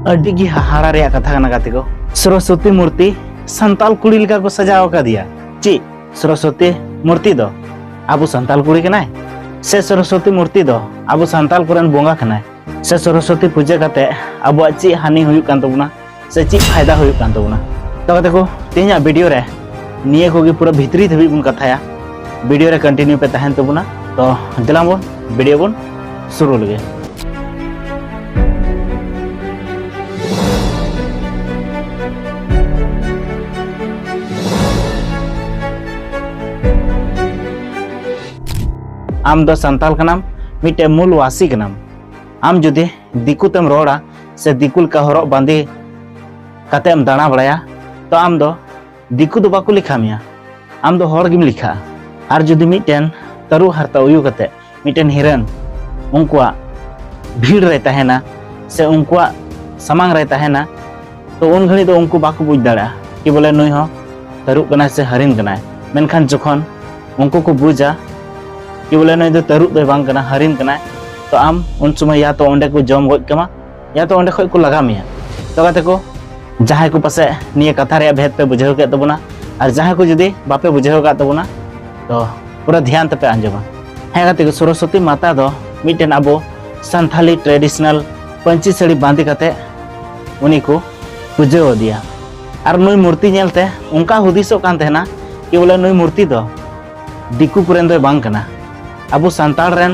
ᱟᱹᱰᱤ ᱜᱮ ᱦᱟᱦᱟᱲᱟ ᱨᱮᱭᱟᱜ ᱠᱟᱛᱷᱟ ᱠᱟᱱᱟ ᱜᱟᱛᱮ ᱠᱚ ᱥᱚᱨᱚᱥᱚᱛᱤ ᱢᱩᱨᱛᱤ ᱥᱟᱱᱛᱟᱞ ᱠᱩᱲᱤ ᱞᱮᱠᱟ ᱠᱚ ᱥᱟᱡᱟᱣ ᱟᱠᱟᱫᱮᱭᱟ ᱪᱮᱫ ᱥᱚᱨᱚᱥᱚᱛᱤ ᱢᱩᱨᱛᱤ ᱫᱚ ᱟᱵᱚ ᱥᱟᱱᱛᱟᱞ ᱠᱩᱲᱤ ᱠᱟᱱᱟᱭ ᱥᱮ ᱥᱚᱨᱚᱥᱚᱛᱤ ᱢᱩᱨᱛᱤ ᱫᱚ ᱟᱵᱚ ᱥᱟᱱᱛᱟᱞ ᱠᱚᱨᱮᱱ ᱵᱚᱸᱜᱟ ᱠᱟᱱᱟᱭ ᱥᱮ ᱥᱚᱨᱚᱥᱚᱛᱤ ᱯᱩᱡᱟᱹ ᱠᱟᱛᱮ ᱟᱵᱚᱣᱟᱜ ᱪᱮᱫ ᱦᱟᱹᱱᱤ ᱦᱩᱭᱩᱜ ᱠᱟᱱ ᱛᱟᱵᱚᱱᱟ ᱥᱮ ᱪᱮᱫ ᱯᱷᱟᱭᱫᱟ ᱦᱩᱭᱩᱜ ᱠᱟᱱ ᱛᱟᱵᱚᱱᱟ ᱛᱚ ᱜᱟᱛᱮ ᱠᱚ ᱛᱮᱦᱮᱧᱟᱜ ᱵᱷᱤᱰᱤᱭᱳ ᱨᱮ ᱱᱤᱭᱟᱹ ᱠᱚᱜᱮ ᱯᱩᱨᱟᱹ ᱵᱷᱤᱛᱨᱤ ᱫᱷᱟᱹᱵᱤᱡ ᱵᱚᱱ ᱠᱟᱛᱷᱟᱭᱟ ᱵᱷᱤᱰᱤᱭᱳ ᱨᱮ ᱠᱚᱱᱴᱤᱱᱤᱭᱩ ᱯᱮ ᱛᱟᱦᱮᱱ ᱛᱟᱵᱚᱱᱟ ᱛᱚ ᱫᱮᱞᱟᱝ ᱵᱚᱱ ᱵᱷᱤᱰᱤᱭᱳ ᱵᱚᱱ ᱥᱩᱨᱩ ᱞᱮᱜᱮ ᱟᱢ ᱫᱚ ᱥᱟᱱᱛᱟᱞ ᱠᱟᱱᱟᱢ ᱢᱤᱫᱴᱮᱱ ᱢᱩᱞ ᱣᱟᱥᱤ ᱠᱟᱱᱟᱢ ᱟᱢ ᱡᱩᱫᱤ ᱫᱤᱠᱩ ᱛᱮᱢ ᱨᱚᱲᱟ ᱥᱮ ᱫᱤᱠᱩ ᱞᱮᱠᱟ ᱦᱚᱨᱚᱜ ᱵᱟᱸᱫᱮ ᱠᱟᱛᱮᱢ ᱫᱟᱬᱟ ᱵᱟᱲᱟᱭᱟ ᱛᱚ ᱟᱢ ᱫᱚ ᱫᱤᱠᱩ ᱫᱚ ᱵᱟᱠᱚ ᱞᱮᱠᱷᱟ ᱢᱮᱭᱟ ᱟᱢ ᱫᱚ ᱦᱚᱲ ᱜᱮᱢ ᱞᱮᱠᱷᱟᱜᱼᱟ ᱟᱨ ᱡᱩᱫᱤ ᱢᱤᱫᱴᱮᱱ ᱛᱟᱹᱨᱩ ᱦᱟᱨᱛᱟ ᱩᱭᱩ ᱠᱟᱛᱮ ᱢᱤᱫᱴᱮᱱ ᱦᱤᱨᱟᱹᱱ ᱩᱱᱠᱩᱣᱟᱜ ᱵᱷᱤᱲ ᱨᱮ ᱛᱟᱦᱮᱱᱟ ᱥᱮ ᱩᱱᱠᱩᱣᱟᱜ ᱥᱟᱢᱟᱝ ᱨᱮ ᱛᱟᱦᱮᱱᱟ ᱛᱚ ᱩᱱ ᱜᱷᱟᱹᱲᱤᱡ ᱫᱚ ᱩᱱᱠᱩ ᱵᱟᱠᱚ ᱵᱩᱡᱽ ᱫᱟᱲᱮᱭᱟᱜᱼᱟ ᱠᱤ ᱵᱚᱞᱮ ᱱᱩᱭ ᱦᱚᱸ ᱛᱟᱹᱨᱩᱵ ᱠᱟᱱᱟᱭ ᱥᱮ ᱦᱟᱹᱨᱤᱱ ᱠᱟᱱᱟᱭ ᱢᱮᱱᱠᱷᱟᱱ ᱡᱚᱠᱷᱚᱱ ᱩᱱᱠᱩ ᱠᱚ ᱵᱩᱡᱟ ᱠᱤ ᱵᱚᱞᱮ ᱱᱩᱭ ᱫᱚ ᱛᱟᱹᱨᱩᱵ ᱫᱚᱭ ᱵᱟᱝ ᱠᱟᱱᱟ ᱦᱟᱹᱨᱤᱱ ᱠᱟᱱᱟᱭ ᱛᱚ ᱟᱢ ᱩᱱ ᱥᱚᱢᱚᱭ ᱭᱟ ᱛᱚ ᱚᱸᱰᱮ ᱠᱚ ᱡᱚᱢ ᱜᱚᱡ ᱠᱟᱢᱟ ᱭᱟ ᱛᱚ ᱚᱸᱰᱮ ᱠᱷᱚᱡ ᱠᱚ ᱞᱟᱜᱟ ᱢᱮᱭᱟ ᱛᱚ ᱜᱟᱛᱮ ᱠᱚ ᱡᱟᱦᱟᱸᱭ ᱠᱚ ᱯᱟᱥᱮ ᱱᱤᱭᱟᱹ ᱠᱟᱛᱷᱟ ᱨᱮᱭᱟᱜ ᱵᱷᱮᱫ ᱯᱮ ᱵᱩᱡᱷᱟᱹᱣ ᱠᱮᱫ ᱛᱟᱵᱚᱱᱟ ᱟᱨ ᱡᱟᱦᱟᱸᱭ ᱠᱚ ᱡᱩᱫᱤ ᱵᱟᱯᱮ ᱵᱩᱡᱷᱟᱹᱣ ᱠᱟᱫ ᱛᱟᱵᱚᱱᱟ ᱛᱚ ᱯᱩᱨᱟᱹ ᱫᱷᱮᱭᱟᱱ ᱛᱮᱯᱮ ᱟᱸᱡᱚᱢᱟ ᱦᱮᱸ ᱜᱟᱛᱮ ᱠᱚ ᱥᱚᱨᱚᱥᱚᱛᱤ ᱢᱟᱛᱟ ᱫᱚ ᱢᱤᱫᱴᱮᱱ ᱟᱵᱚ ᱥᱟᱱᱛᱷᱟᱞᱤ ᱴᱨᱮᱰᱤᱥᱚᱱᱟᱞ ᱯᱟᱹᱧᱪᱤ ᱥᱟᱹᱲᱤ ᱵᱟᱸᱫᱮ ᱠᱟᱛᱮ ᱩᱱᱤ ᱠᱚ ᱯᱩᱡᱟᱹᱣ ᱟᱫᱮᱭᱟ ᱟᱨ ᱱᱩᱭ ᱢᱩᱨᱛᱤ ᱧᱮᱞᱛᱮ ᱚᱱᱠᱟ ᱦᱩᱫᱤᱥᱚᱜ ᱠᱟᱱ ᱛᱟᱦᱮᱱᱟ ᱠᱤ ᱵᱚᱞᱮ ᱱᱩᱭ ᱢᱩᱨᱛᱤ ᱫᱚ ᱫᱤᱠᱩ ᱠᱚᱨᱮᱱ ᱫᱚᱭ ᱵᱟᱝ ᱠᱟᱱᱟ ᱟᱵᱚ ᱥᱟᱱᱛᱟᱲ ᱨᱮᱱ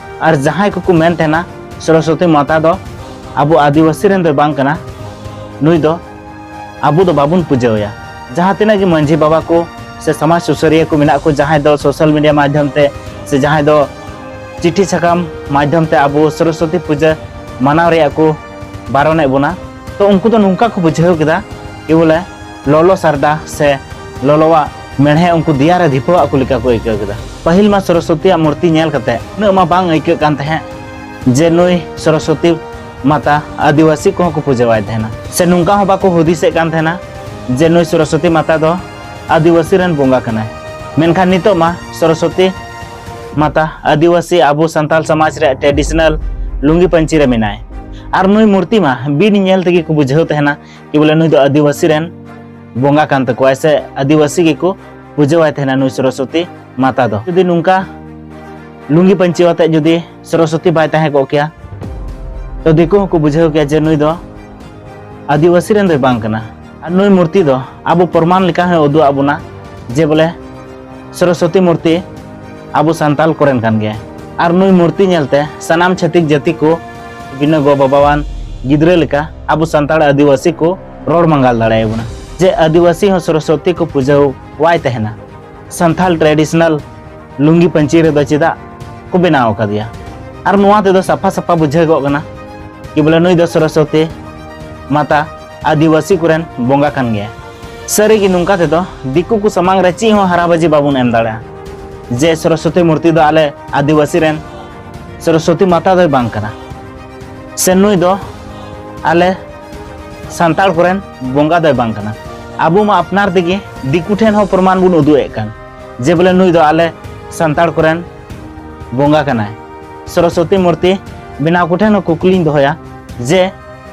ᱟᱨ ᱡᱟᱦᱟᱸᱭ ᱠᱚᱠᱚ ᱢᱮᱱ ᱛᱟᱦᱮᱱᱟ ᱥᱚᱨᱚᱥᱚᱛᱤ ᱢᱟᱛᱟ ᱫᱚ ᱟᱵᱚ ᱟᱹᱫᱤᱵᱟᱹᱥᱤ ᱨᱮᱱ ᱫᱚ ᱵᱟᱝ ᱠᱟᱱᱟ ᱱᱩᱭ ᱫᱚ ᱟᱵᱚ ᱫᱚ ᱵᱟᱵᱚᱱ ᱯᱩᱡᱟᱹᱣᱟᱭᱟ ᱡᱟᱦᱟᱸ ᱛᱤᱱᱟᱹᱜ ᱜᱮ ᱢᱟᱹᱡᱷᱤ ᱵᱟᱵᱟ ᱠᱚ ᱥᱮ ᱥᱚᱢᱟᱡᱽ ᱥᱩᱥᱟᱹᱨᱤᱭᱟᱹ ᱠᱚ ᱢᱮᱱᱟᱜ ᱠᱚ ᱡᱟᱦᱟᱸᱭ ᱫᱚ ᱥᱳᱥᱟᱞ ᱢᱤᱰᱤᱭᱟ ᱢᱟᱫᱽᱫᱷᱚᱢ ᱛᱮ ᱥᱮ ᱡᱟᱦᱟᱸᱭ ᱫᱚ ᱪᱤᱴᱷᱤ ᱥᱟᱠᱟᱢ ᱢᱟᱫᱽᱫᱷᱚᱢ ᱛᱮ ᱟᱵᱚ ᱥᱚᱨᱚᱥᱚᱛᱤ ᱯᱩᱡᱟᱹ ᱢᱟᱱᱟᱣ ᱨᱮᱭᱟᱜ ᱠᱚ ᱵᱟᱨᱚᱱᱮᱫ ᱵᱚᱱᱟ ᱛᱚ ᱩᱱᱠᱩ ᱫᱚ ᱱᱚᱝᱠᱟ ᱠᱚ ᱵᱩᱡᱷᱟᱹᱣ ᱠᱮᱫᱟ ᱠᱤ ᱵᱚᱞᱮ ᱞᱚᱞᱚ ᱥᱟᱨᱰᱟ ᱥᱮ ᱞᱚᱞᱚᱣᱟᱜ ᱢᱮᱬᱦᱮ ᱩᱱᱠᱩ ᱫᱮᱭᱟ ᱨᱮ ᱫᱷᱤᱯᱟᱹᱣᱟᱜ ᱠᱚ ᱞᱮᱠᱟ ᱠᱚ ᱟᱹᱭᱠᱟᱹᱣ ᱠᱮᱫᱟ ᱯᱟᱹᱦᱤᱞ ᱢᱟ ᱥᱚᱨᱚᱥᱚᱛᱤᱭᱟᱜ ᱢᱩᱨᱛᱤ ᱧᱮᱞ ᱠᱟᱛᱮ ᱩᱱᱟᱹᱜ ᱢᱟ ᱵᱟᱝ ᱟᱹᱭᱠᱟᱹᱜ ᱠᱟᱱ ᱛᱟᱦᱮᱸᱫ ᱡᱮ ᱱᱩᱭ ᱥᱚᱨᱚᱥᱚᱛᱤ ᱢᱟᱛᱟ ᱟᱹᱫᱤᱵᱟᱹᱥᱤ ᱠᱚᱦᱚᱸ ᱠᱚ ᱯᱩᱡᱟᱹᱣᱟᱭ ᱛᱟᱦᱮᱱᱟ ᱥᱮ ᱱᱚᱝᱠᱟ ᱦᱚᱸ ᱵᱟᱠᱚ ᱦᱩᱫᱤᱥᱮᱫ ᱠᱟᱱ ᱛᱟᱦᱮᱱᱟ ᱡᱮ ᱱᱩᱭ ᱥᱚᱨᱚᱥᱚᱛᱤ ᱢᱟᱛᱟ ᱫᱚ ᱟᱹᱫᱤᱵᱟᱹᱥᱤ ᱨᱮᱱ ᱵᱚᱸᱜᱟ ᱠᱟᱱᱟᱭ ᱢᱮᱱᱠᱷᱟᱱ ᱱᱤᱛᱚᱜ ᱢᱟ ᱥᱚᱨᱚᱥᱚᱛᱤ ᱢᱟᱛᱟ ᱟᱹᱫᱤᱵᱟᱹᱥᱤ ᱟᱵᱚ ᱥᱟᱱᱛᱟᱲ ᱥᱚᱢᱟᱡᱽ ᱨᱮ ᱴᱨᱮᱰᱤᱥᱚᱱᱟᱞ ᱞᱩᱝᱜᱤ ᱯᱟᱹᱧᱪᱤ ᱨᱮ ᱢᱮᱱᱟᱭ ᱟᱨ ᱱᱩᱭ ᱢᱩᱨᱛᱤ ᱢᱟ ᱵᱤᱱ ᱧᱮᱞ ᱛᱮᱜᱮ ᱠᱚ ᱵᱩᱡᱷᱟᱹᱣ ᱛᱟᱦᱮᱱᱟ ᱠᱤ ᱵᱚᱞᱮ ᱱᱩᱭ ᱫᱚ ᱟᱹᱫᱤᱵᱟᱹᱥᱤ ᱨᱮᱱ ᱵᱚᱸᱜᱟ ᱠᱟᱱ ᱛᱟᱠᱚᱣᱟ ᱥᱮ ᱟᱹᱫᱤᱵᱟᱹᱥᱤ ᱜᱮᱠᱚ ᱯᱩᱡᱟᱹᱣᱟᱭ ᱛᱟᱦᱮᱱᱟ ᱱᱩᱭ ᱥᱚᱨᱚᱥᱚᱛᱤ ᱢᱟᱛᱟ ᱫᱚ ᱡᱩᱫᱤ ᱱᱚᱝᱠᱟ ᱞᱩᱝᱜᱤ ᱯᱟᱹᱧᱪᱤ ᱟᱛᱮ ᱡᱩᱫᱤ ᱥᱚᱨᱚᱥᱚᱛᱤ ᱵᱟᱭ ᱛᱟᱦᱮᱸ ᱠᱚᱜ ᱠᱮᱭᱟ ᱛᱚ ᱫᱤᱠᱩ ᱦᱚᱸᱠᱚ ᱵᱩᱡᱷᱟᱹᱣ ᱠᱮᱭᱟ ᱡᱮ ᱱᱩᱭ ᱫᱚ ᱟᱹᱫᱤᱵᱟᱹᱥᱤ ᱨᱮᱱ ᱫᱚᱭ ᱵᱟᱝ ᱠᱟᱱᱟ ᱟᱨ ᱱᱩᱭ ᱢᱩᱨᱛᱤ ᱫᱚ ᱟᱵᱚ ᱯᱨᱚᱢᱟᱱ ᱞᱮᱠᱟ ᱦᱚᱸ ᱩᱫᱩᱜ ᱟᱵᱚᱱᱟ ᱡᱮ ᱵᱚᱞᱮ ᱥᱚᱨᱚᱥᱚᱛᱤ ᱢᱩᱨᱛᱤ ᱟᱵᱚ ᱥᱟᱱᱛᱟᱞ ᱠᱚᱨᱮᱱ ᱠᱟᱱ ᱜᱮᱭᱟ ᱟᱨ ᱱᱩᱭ ᱢᱩᱨᱛᱤ ᱧᱮᱞᱛᱮ ᱥᱟᱱᱟᱢ ᱪᱷᱟᱹᱛᱤᱠ ᱡᱟᱹᱛᱤ ᱠᱚ ᱵᱤᱱᱟᱹ ᱜᱚ ᱵᱟᱵᱟᱣᱟᱱ ᱜᱤᱫᱽᱨᱟᱹ ᱞᱮᱠᱟ ᱟᱵᱚ ᱥᱟᱱᱛᱟᱲ ᱟᱹᱫᱤᱵᱟᱹᱥᱤ ᱠᱚ ᱨᱚᱲ ᱢᱟᱸᱜᱟᱞ ᱫᱟᱲᱮᱭᱟᱵᱚᱱᱟ ᱡᱮ ᱟᱹᱫᱤᱵᱟᱹᱥᱤ ᱦᱚᱸ ᱥᱚᱨᱚᱥᱚᱛᱤ ᱠᱚ ᱯᱩᱡᱟᱹ ᱣᱟᱭ ᱛᱟᱦᱮᱱᱟ ᱥᱟᱱᱛᱟᱞ ᱴᱨᱮᱰᱤᱥᱚᱱᱟᱞ ᱞᱩᱝᱜᱤ ᱯᱟᱹᱧᱪᱤ ᱨᱮᱫᱚ ᱪᱮᱫᱟᱜ ᱠᱚ ᱵᱮᱱᱟᱣ ᱟᱠᱟᱫᱮᱭᱟ ᱟᱨ ᱱᱚᱣᱟ ᱛᱮᱫᱚ ᱥᱟᱯᱷᱟ ᱥᱟᱯᱷᱟ ᱵᱩᱡᱷᱟᱹᱜᱚᱜ ᱠᱟᱱᱟ ᱠᱤ ᱵᱚᱞᱮ ᱱᱩᱭ ᱫᱚ ᱥᱚᱨᱚᱥᱚᱛᱤ ᱢᱟᱛᱟ ᱟᱹᱫᱤᱵᱟᱹᱥᱤ ᱠᱚᱨᱮᱱ ᱵᱚᱸᱜᱟ ᱠᱟᱱ ᱜᱮᱭᱟ ᱥᱟᱹᱨᱤ ᱜᱮ ᱱᱚᱝᱠᱟ ᱛᱮᱫᱚ ᱫᱤᱠᱩ ᱠᱚ ᱥᱟᱢᱟᱝ ᱨᱮ ᱪᱮᱫ ᱦᱚᱸ ᱦᱟᱨᱟᱵᱟᱡᱤ ᱵᱟᱵᱚᱱ ᱮᱢ ᱫᱟᱲᱮᱭᱟᱜᱼᱟ ᱡᱮ ᱥᱚᱨᱚᱥᱚᱛᱤ ᱢᱩᱨᱛᱤ ᱫᱚ ᱟᱞᱮ ᱟᱹᱫᱤᱵᱟᱹᱥᱤ ᱨᱮᱱ ᱥᱚᱨᱚᱥᱚᱛᱤ ᱢᱟᱛᱟ ᱫᱚᱭ ᱵᱟᱝ ᱠᱟᱱᱟ ᱥᱮ ᱱᱩᱭ ᱫᱚ ᱟᱞᱮ ᱥᱟᱱᱛᱟᱲ ᱠᱚᱨᱮᱱ ᱵᱚᱸᱜᱟ ᱫᱚᱭ ᱵᱟᱝ ᱠᱟᱱᱟ ᱟᱵᱚ ᱢᱟ ᱟᱯᱱᱟᱨ ᱛᱮᱜᱮ ᱫᱤᱠᱩ ᱴᱷᱮᱱ ᱦᱚᱸ ᱯᱨᱚᱢᱟᱱ ᱵᱚᱱ ᱩᱫᱩᱜ ᱮᱫ ᱠᱟᱱ ᱡᱮ ᱵᱚᱞᱮ ᱱᱩᱭ ᱫᱚ ᱟᱞᱮ ᱥᱟᱱᱛᱟᱲ ᱠᱚᱨᱮᱱ ᱵᱚᱸᱜᱟ ᱠᱟᱱᱟᱭ ᱥᱚᱨᱚᱥᱚᱛᱤ ᱢᱩᱨᱛᱤ ᱵᱮᱱᱟᱣ ᱠᱚᱴᱷᱮᱱ ᱦᱚᱸ ᱠᱩᱠᱞᱤᱧ ᱫᱚᱦᱚᱭᱟ ᱡᱮ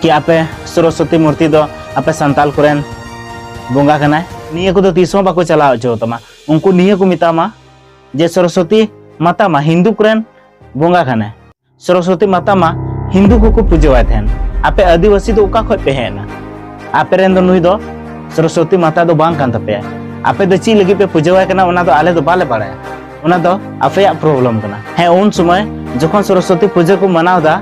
ᱠᱤ ᱟᱯᱮ ᱥᱚᱨᱚᱥᱚᱛᱤ ᱢᱩᱨᱛᱤ ᱫᱚ ᱟᱯᱮ ᱥᱟᱱᱛᱟᱞ ᱠᱚᱨᱮᱱ ᱵᱚᱸᱜᱟ ᱠᱟᱱᱟᱭ ᱱᱤᱭᱟᱹ ᱠᱚᱫᱚ ᱛᱤᱥ ᱦᱚᱸ ᱵᱟᱠᱚ ᱪᱟᱞᱟᱣ ᱦᱚᱪᱚ ᱛᱟᱢᱟ ᱩᱱᱠᱩ ᱱᱤᱭᱟᱹ ᱠᱚ ᱢᱮᱛᱟᱢᱟ ᱡᱮ ᱥᱚᱨᱚᱥᱚᱛᱤ ᱢᱟᱛᱟ ᱢᱟ ᱦᱤᱱᱫᱩ ᱠᱚᱨᱮᱱ ᱵᱚᱸᱜᱟ ᱠᱟᱱᱟᱭ ᱥᱚᱨᱚᱥᱚᱛᱤ ᱢᱟᱛᱟ ᱢᱟ ᱦᱤᱱᱫᱩ ᱠᱚᱠᱚ ᱯᱩᱡᱟᱹᱣᱟᱭ ᱛᱟᱦᱮᱱ ᱟᱯᱮ ᱟᱹᱫᱤᱵᱟᱹᱥᱤ ᱫᱚ ᱚᱠᱟ ᱠᱷᱚᱡ ᱯᱮ ᱦᱮᱡ ᱮᱱᱟ ᱟᱯᱮ ᱨᱮᱱ ᱫᱚ ᱱᱩᱭ ᱫᱚ ᱥᱚᱨᱚᱥᱚᱛᱤ ᱢᱟᱛᱟ ᱫᱚ ᱵᱟᱝ ᱠᱟᱱ ᱛᱟᱯᱮᱭᱟ ᱟᱯᱮ ᱫᱚ ᱪᱮᱫ ᱞᱟᱹᱜᱤᱫ ᱯᱮ ᱯᱩᱡᱟᱹᱣᱟᱭ ᱠᱟᱱᱟ ᱚᱱᱟ ᱫᱚ ᱟᱞᱮ ᱫᱚ ᱵᱟᱞᱮ ᱵᱟᱲᱟᱭᱟ ᱚᱱᱟ ᱫᱚ ᱟᱯᱮᱭᱟᱜ ᱯᱨᱚᱵᱞᱮᱢ ᱠᱟᱱᱟ ᱦᱮᱸ ᱩᱱ ᱥᱚᱢᱚᱭ ᱡᱚᱠᱷᱚᱱ ᱥᱚᱨᱚᱥᱚᱛᱤ ᱯᱩᱡᱟᱹ ᱠᱚ ᱢᱟᱱᱟᱣ ᱫᱟ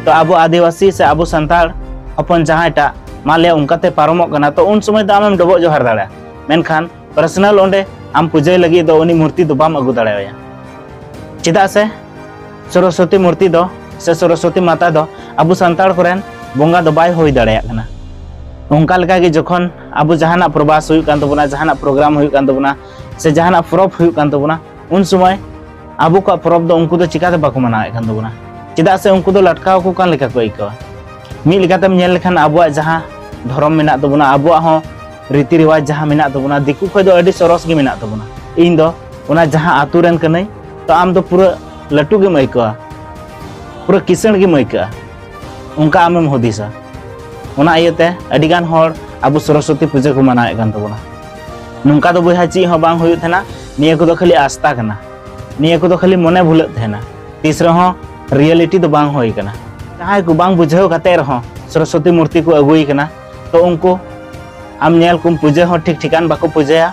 ᱛᱚ ᱟᱵᱚ ᱟᱹᱫᱤᱵᱟᱹᱥᱤ ᱥᱮ ᱟᱵᱚ ᱥᱟᱱᱛᱟᱲ ᱦᱚᱯᱚᱱ ᱡᱟᱦᱟᱸᱭᱴᱟᱜ ᱢᱟ ᱞᱟᱹᱭᱟ ᱚᱱᱠᱟᱛᱮ ᱯᱟᱨᱚᱢᱚᱜ ᱠᱟᱱᱟ ᱛᱚ ᱩᱱ ᱥᱚᱢᱚᱭ ᱫᱚ ᱟᱢᱮᱢ ᱰᱚᱵᱚᱜ ᱡᱚᱦᱟᱨ ᱫᱟᱲᱮᱭᱟᱜᱼᱟ ᱢᱮᱱᱠᱷᱟᱱ ᱯᱟᱨᱥᱚᱱᱟᱞ ᱚᱸᱰᱮ ᱟᱢ ᱯᱩᱡᱟᱹᱭ ᱞᱟᱹᱜᱤᱫ ᱫᱚ ᱩᱱᱤ ᱢᱩᱨᱛᱤ ᱫᱚ ᱵᱟᱢ ᱟᱹᱜᱩ ᱫᱟᱲᱮᱣᱟᱭᱟ ᱪᱮᱫᱟᱜ ᱥᱮ ᱥᱚᱨᱚᱥᱚᱛᱤ ᱢᱩᱨᱛᱤ ᱫᱚ ᱥᱮ ᱥᱚᱨᱚᱥᱚᱛᱤ ᱢᱟᱛᱟ ᱫᱚ ᱟᱵᱚ ᱥᱟᱱᱛᱟᱲ ᱠᱚᱨᱮᱱ ᱵᱚᱸᱜᱟ ᱫᱚ ᱵᱟᱭ ᱦᱩᱭ ᱫᱟᱲᱮᱭᱟᱜ ᱠᱟᱱᱟ ᱚᱱᱠᱟ ᱞᱮᱠᱟᱜᱮ ᱡᱚᱠᱷᱚᱱ ᱟᱵᱚ ᱡᱟᱦᱟᱱᱟᱜ ᱯᱨᱚᱵᱟᱥ ᱦᱩᱭᱩᱜ ᱠᱟᱱ ᱛᱟᱵᱚᱱᱟ ᱡᱟᱦᱟᱱᱟᱜ ᱯᱨᱳᱜᱨᱟᱢ ᱦᱩᱭᱩᱜ ᱠᱟᱱ ᱛᱟᱵᱚᱱᱟ ᱥᱮ ᱡᱟᱦᱟᱱᱟᱜ ᱯᱚᱨᱚᱵᱽ ᱦᱩᱭᱩᱜ ᱠᱟᱱ ᱛᱟᱵᱚᱱᱟ ᱩᱱ ᱥᱚᱢᱚᱭ ᱟᱵᱚ ᱠᱚᱣᱟᱜ ᱯᱚᱨᱚᱵᱽ ᱫᱚ ᱩᱱᱠᱩ ᱫᱚ ᱪᱤᱠᱟᱹᱛᱮ ᱵᱟᱠᱚ ᱢᱟᱱᱟᱣᱮᱫ ᱠᱟᱱ ᱛᱟᱵᱚᱱᱟ ᱪᱮᱫᱟᱜ ᱥᱮ ᱩᱱᱠᱩ ᱫᱚ ᱞᱟᱴᱠᱟᱣ ᱠᱚ ᱠᱟᱱ ᱞᱮᱠᱟ ᱠᱚ ᱟᱹᱭᱠᱟᱹᱣᱟ ᱢᱤᱫ ᱞᱮᱠᱟᱛᱮᱢ ᱧᱮᱞ ᱞᱮᱠᱷᱟᱱ ᱟᱵᱚᱣᱟᱜ ᱡᱟᱦᱟᱸ ᱫᱷᱚᱨᱚᱢ ᱢᱮᱱᱟᱜ ᱛᱟᱵᱚᱱᱟ ᱟᱵᱚᱣᱟᱜ ᱦᱚᱸ ᱨᱤᱛᱤ ᱨᱮᱣᱟᱡᱽ ᱡᱟᱦᱟᱸ ᱢᱮᱱᱟᱜ ᱛᱟᱵᱚᱱᱟ ᱫᱤᱠᱩ ᱠᱷᱚᱡ ᱫᱚ ᱟᱹᱰᱤ ᱥᱚᱨᱚᱥ ᱜᱮ ᱢᱮᱱᱟᱜ ᱛᱟᱵᱚᱱᱟ ᱤᱧ ᱫᱚ ᱚᱱᱟ ᱡᱟᱦᱟᱸ ᱟᱛᱳ ᱨᱮᱱ ᱠᱟᱹᱱᱟᱹᱧ ᱛᱚ ᱟᱢ ᱫᱚ ᱯᱩᱨᱟᱹ ᱞᱟᱹᱴᱩ ᱜᱮᱢ ᱟᱹᱭᱠᱟᱹᱣᱟ ᱯᱩᱨᱟᱹ ᱠᱤᱥᱟᱹᱬ ᱜᱮᱢ ᱟᱹᱭᱠᱟᱹᱜᱼᱟ ᱚᱱᱠᱟ ᱟᱢᱮᱢ ᱦᱩᱫᱤᱥᱟ ᱚᱱᱟ ᱤᱭᱟᱹᱛᱮ ᱟᱹᱰᱤᱜᱟᱱ ᱦᱚᱲ ᱟᱵᱚ ᱥᱚᱨᱚᱥᱚᱛᱤ ᱯᱩᱡᱟᱹ ᱠᱚ ᱢᱟᱱᱟᱣᱮᱫ ᱠᱟᱱ ᱛᱟᱵᱚᱱᱟ ᱱᱚᱝᱠᱟ ᱫᱚ ᱵᱚᱭᱦᱟ ᱪᱮᱫ ᱦᱚᱸ ᱵᱟᱝ ᱦᱩᱭᱩᱜ ᱛᱟᱦᱮᱱᱟ ᱱᱤᱭᱟᱹ ᱠᱚᱫᱚ ᱠᱷᱟᱹᱞᱤ ᱟᱥᱛᱟ ᱠᱟᱱᱟ ᱱᱤᱭᱟᱹ ᱠᱚᱫᱚ ᱠᱷᱟᱹᱞᱤ ᱢᱚᱱᱮ ᱵᱷᱩᱞᱟᱹᱜ ᱛᱟᱦᱮᱱᱟ ᱛᱤᱥ ᱨᱮᱦᱚᱸ ᱨᱤᱭᱮᱞᱤᱴᱤ ᱫᱚ ᱵᱟᱝ ᱦᱩᱭ ᱠᱟᱱᱟ ᱡᱟᱦᱟᱸᱭ ᱠᱚ ᱵᱟᱝ ᱵᱩᱡᱷᱟᱹᱣ ᱠᱟᱛᱮ ᱨᱮᱦᱚᱸ ᱥᱚᱨᱚᱥᱚᱛᱤ ᱢᱩᱨᱛᱤ ᱠᱚ ᱟᱹᱜᱩᱭ ᱠᱟᱱᱟ ᱛᱚ ᱩᱱᱠᱩ ᱟᱢ ᱧᱮᱞ ᱠᱚᱢ ᱯᱩᱡᱟᱹ ᱦᱚᱸ ᱴᱷᱤᱠ ᱴᱷᱤᱠᱟᱱ ᱵᱟᱠᱚ ᱯᱩᱡᱟᱹᱭᱟ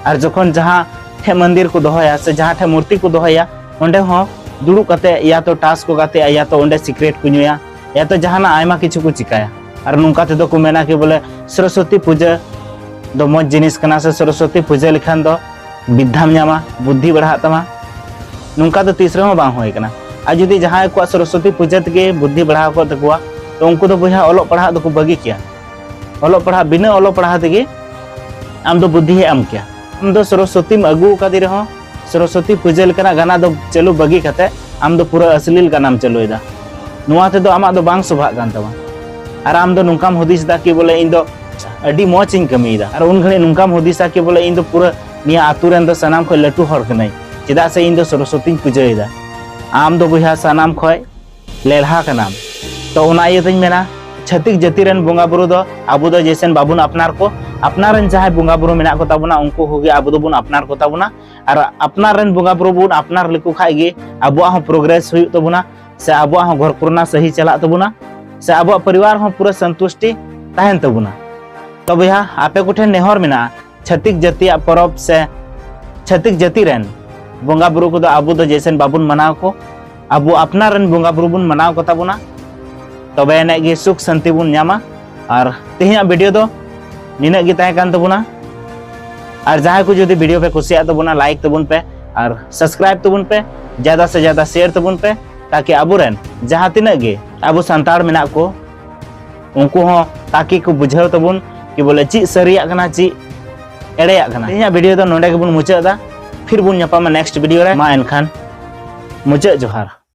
ᱟᱨ ᱡᱚᱠᱷᱚᱱ ᱡᱟᱦᱟᱸ ᱴᱷᱮᱱ ᱢᱚᱱᱫᱤᱨ ᱠᱚ ᱫᱚᱦᱚᱭᱟ ᱥᱮ ᱡᱟᱦᱟᱸ ᱴᱷᱮᱱ ᱢᱩᱨᱛᱤ ᱠᱚ ᱫᱚᱦᱚᱭᱟ ᱚᱸᱰᱮ ᱦᱚᱸ ᱫᱩᱲᱩᱵ ᱠᱟᱛᱮ ᱭᱟ ᱛᱚ ᱴᱟᱥ ᱠᱚ ᱜᱟᱛᱮᱜᱼᱟ ᱭᱟ ᱛᱚ ᱚᱸᱰᱮ ᱥᱤᱠᱨᱮᱴ ᱠᱚ ᱧᱩᱭᱟ ᱮ ᱛᱚ ᱡᱟᱦᱟᱱᱟᱜ ᱟᱭᱢᱟ ᱠᱤᱪᱷᱩ ᱠᱚ ᱪᱤᱠᱟᱭᱟ ᱟᱨ ᱱᱚᱝᱠᱟ ᱛᱮᱫᱚ ᱠᱚ ᱢᱮᱱᱟ ᱠᱤ ᱵᱚᱞᱮ ᱥᱚᱨᱚᱥᱚᱛᱤ ᱯᱩᱡᱟᱹ ᱫᱚ ᱢᱚᱡᱽ ᱡᱤᱱᱤᱥ ᱠᱟᱱᱟ ᱥᱮ ᱥᱚᱨᱚᱥᱚᱛᱤ ᱯᱩᱡᱟᱹ ᱞᱮᱠᱷᱟᱱ ᱫᱚ ᱵᱤᱫᱽᱫᱷᱟᱢ ᱧᱟᱢᱟ ᱵᱩᱫᱽᱫᱷᱤ ᱵᱟᱲᱦᱟᱜ ᱛᱟᱢᱟ ᱱᱚᱝᱠᱟ ᱫᱚ ᱛᱤᱥ ᱨᱮᱦᱚᱸ ᱵᱟᱝ ᱦᱩᱭ ᱠᱟᱱᱟ ᱟᱨ ᱡᱩᱫᱤ ᱡᱟᱦᱟᱸᱭ ᱠᱚᱣᱟᱜ ᱥᱚᱨᱚᱥᱚᱛᱤ ᱯᱩᱡᱟᱹ ᱛᱮᱜᱮ ᱵᱩᱫᱽᱫᱷᱤ ᱵᱟᱲᱦᱟᱣ ᱠᱚᱜ ᱛᱟᱠᱚᱣᱟ ᱛᱚ ᱩᱱᱠᱩ ᱫᱚ ᱵᱚᱭᱦᱟ ᱚᱞᱚᱜ ᱯᱟᱲᱦᱟᱜ ᱫᱚᱠᱚ ᱵᱟᱹᱜᱤ ᱠᱮᱭᱟ ᱚᱞᱚᱜ ᱯᱟᱲᱦᱟᱜ ᱵᱤᱱᱟᱹ ᱚᱞᱚᱜ ᱯᱟᱲᱦᱟᱜ ᱛᱮᱜᱮ ᱟᱢ ᱫᱚ ᱵᱩᱫᱽᱫᱷᱤ ᱮᱢ ᱠᱮᱭᱟ ᱟᱢ ᱫᱚ ᱥᱚᱨᱚᱥᱚᱛᱤᱢ ᱟᱹᱜᱩ ᱟᱠᱟᱫᱮ ᱨᱮᱦᱚᱸ ᱥᱚᱨᱚᱥᱚᱛᱤ ᱯᱩᱡᱟᱹ ᱞᱮᱠᱟᱱᱟᱜ ᱜᱟᱱᱟ ᱫᱚ ᱪᱟᱹᱞᱩ ᱵᱟᱹᱜᱤ ᱠᱟᱛᱮ ᱟᱢ ᱫᱚ ᱯᱩᱨᱟᱹ ᱟᱥᱞᱤᱞ ᱜᱟᱱᱟᱢ ᱪᱟᱹᱞᱩᱭᱮᱫᱟ ᱱᱚᱣᱟ ᱛᱮᱫᱚ ᱟᱢᱟᱜ ᱫᱚ ᱵᱟᱝ ᱥᱚᱵᱷᱟᱜ ᱠᱟᱱ ᱛᱟᱢᱟ ᱟᱨ ᱟᱢ ᱫᱚ ᱱᱚᱝᱠᱟᱢ ᱦᱩᱫᱤᱥᱫᱟ ᱠᱤ ᱵᱚᱞᱮ ᱤᱧ ᱫᱚ ᱟᱹᱰᱤ ᱢᱚᱡᱽ ᱤᱧ ᱠᱟᱹᱢᱤᱭᱮᱫᱟ ᱟᱨ ᱩᱱ ᱜᱷᱟᱹᱲᱤᱡ ᱱᱚᱝᱠᱟᱢ ᱦᱩᱫᱤᱥᱟ ᱠᱤ ᱵᱚᱞᱮ ᱤᱧ ᱫᱚ ᱯᱩᱨᱟᱹ ᱱᱤᱭᱟᱹ ᱟᱛᱳ ᱨᱮᱱ ᱫᱚ ᱥᱟᱱᱟᱢ ᱠᱷᱚᱱ ᱞᱟᱹᱴᱩ ᱦᱚᱲ ᱠᱟᱹᱱᱟᱹᱧ ᱪᱮᱫᱟᱜ ᱥᱮ ᱤᱧ ᱫᱚ ᱥᱚᱨᱚᱥᱚᱛᱤᱧ ᱯᱩᱡᱟᱹᱭᱮᱫᱟ ᱟᱢ ᱫᱚ ᱵᱚᱭᱦᱟ ᱥᱟᱱᱟᱢ ᱠᱷᱚᱱ ᱞᱮᱲᱦᱟ ᱠᱟᱱᱟᱢ ᱛᱚ ᱚᱱᱟ ᱤᱭᱟᱹ ᱛᱮᱧ ᱢᱮᱱᱟ ᱪᱷᱟᱹᱛᱤᱠ ᱡᱟᱹᱛᱤ ᱨᱮᱱ ᱵᱚᱸᱜᱟ ᱵᱩᱨᱩ ᱫᱚ ᱟᱵᱚ ᱫᱚ ᱡᱮᱥᱮᱱ ᱵᱟᱵᱚᱱ ᱟᱯᱱᱟᱨ ᱠᱚ ᱟᱯᱱᱟᱨ ᱨᱮᱱ ᱡᱟᱦᱟᱸᱭ ᱵᱚᱸᱜᱟ ᱵᱩᱨᱩ ᱢᱮᱱᱟᱜ ᱠᱚ ᱛᱟᱵᱚᱱᱟ ᱩᱱᱠᱩ ᱠᱚᱜᱮ ᱟᱵᱚ ᱫᱚᱵᱚᱱ ᱟᱯᱱᱟᱨ ᱠᱚ ᱛᱟᱵᱚᱱᱟ ᱟᱨ ᱟᱯᱱᱟᱨ ᱨᱮᱱ ᱵᱚᱸᱜᱟ ᱵᱩᱨᱩ ᱵᱚᱱ ᱟᱯᱱᱟᱨ ᱞᱮᱠᱚ ᱠᱷᱟᱡ ᱜᱮ ᱟᱵᱚᱣᱟᱜ ᱦᱚᱸ ᱯᱨᱳᱜᱨᱮᱥ ᱦᱩᱭᱩᱜ ᱛᱟᱵᱚᱱᱟ ᱥᱮ ᱟᱵᱚᱣᱟᱜ ᱦᱚᱸ ᱜᱷᱚᱨ ᱠᱚᱨᱮᱱᱟᱜ ᱥᱟᱹᱦᱤ ᱪᱟᱞᱟᱜ ᱛᱟᱵᱚᱱᱟ ᱥᱮ ᱟᱵᱚᱣᱟᱜ ᱯᱚᱨᱤᱵᱟᱨ ᱦᱚᱸ ᱯᱩᱨᱟᱹ ᱥᱚᱱᱛᱩᱥᱴᱤ ᱛᱟᱦᱮᱱ ᱛᱟᱵᱚᱱᱟ ᱛᱚ ᱵᱚᱭᱦᱟ ᱟᱯᱮ ᱠᱚᱴᱷᱮᱱ ᱱᱮᱦᱚᱨ ᱢᱮᱱᱟᱜᱼᱟ ᱪᱷᱟᱹᱛᱤᱠ ᱡᱟᱹᱛᱤᱭᱟᱜ ᱯᱚᱨᱚᱵᱽ ᱥᱮ ᱪᱷᱟᱹᱛᱤᱠ ᱡᱟᱹᱛᱤ ᱨᱮᱱ ᱵᱚᱸᱜᱟ ᱵᱩᱨᱩ ᱠᱚᱫᱚ ᱟᱵᱚ ᱫᱚ ᱡᱮᱥᱮᱱ ᱵᱟᱵᱚᱱ ᱢᱟᱱᱟᱣ ᱠᱚ ᱟᱵᱚ ᱟᱯᱱᱟᱨ ᱨᱮᱱ ᱵᱚᱸᱜᱟ ᱵᱩᱨᱩ ᱵᱚᱱ ᱢᱟᱱᱟᱣ ᱠᱚ ᱛᱟᱵᱚᱱᱟ ᱛᱚᱵᱮ ᱟᱹᱱᱤᱡ ᱜᱮ ᱥᱩᱠ ᱥᱟᱱᱛᱤ ᱵᱚᱱ ᱧᱟᱢᱟ ᱟᱨ ᱛᱮᱦᱮᱧᱟᱜ ᱵᱷᱤᱰᱤᱭᱳ ᱫᱚ ᱱᱤᱱᱟᱹᱜ ᱜᱮ ᱛᱟᱦᱮᱸ ᱠᱟᱱ ᱛᱟᱵᱚᱱᱟ ᱟᱨ ᱡᱟᱦᱟᱸᱭ ᱠᱚ ᱡᱩᱫᱤ ᱵᱷᱤᱰᱤᱭᱳ ᱯᱮ ᱠᱩᱥᱤᱭᱟᱜ ᱛᱟᱵᱚᱱᱟ ᱞᱟᱭᱤᱠ ᱛᱟᱵᱚᱱ ᱯᱮ ᱟᱨ ᱥᱟᱵᱥᱠᱨᱟᱭᱤᱵ ᱛᱟᱵᱚᱱ ᱯᱮ ᱡᱟᱫᱟ ᱥᱮ ᱡᱟᱫᱟ ᱥᱮᱭᱟᱨ ᱛᱟᱵᱚᱱ ᱯᱮ ᱛᱟᱠᱤ ᱟᱵᱚᱨᱮᱱ ᱡᱟᱦᱟᱸ ᱛᱤᱱᱟᱹᱜ ᱜᱮ ᱟᱵᱚ ᱥᱟᱱᱛᱟᱲ ᱢᱮᱱᱟᱜ ᱠᱚ ᱩᱱᱠᱩ ᱦᱚᱸ ᱛᱟᱠᱤ ᱠᱚ ᱵᱩᱡᱷᱟᱹᱣ ᱛᱟᱵᱚᱱ ᱠᱤ ᱵᱚᱞᱮ ᱪᱮᱫ ᱥᱟᱹᱨᱤᱭᱟᱜ ᱠᱟᱱᱟ ᱪᱮᱫ ᱮᱲᱮᱭᱟᱜ ᱠᱟᱱᱟ ᱤᱧᱟᱹᱜ ᱵᱷᱤᱰᱤᱭᱳ ᱫᱚ ᱱᱚᱰᱮ ᱜᱮᱵᱚᱱ ᱢᱩᱪᱟᱹᱫ ᱮᱫᱟ ᱯᱷᱤᱨ ᱵᱚᱱ ᱧᱟᱯᱟᱢᱟ ᱱᱮᱠᱥᱴ ᱵᱷᱤᱰᱤᱭᱳ ᱨᱮ ᱢᱟ ᱮᱱᱠᱷᱟᱱ ᱢᱩᱪᱟᱹᱫ ᱡᱚᱦᱟᱨ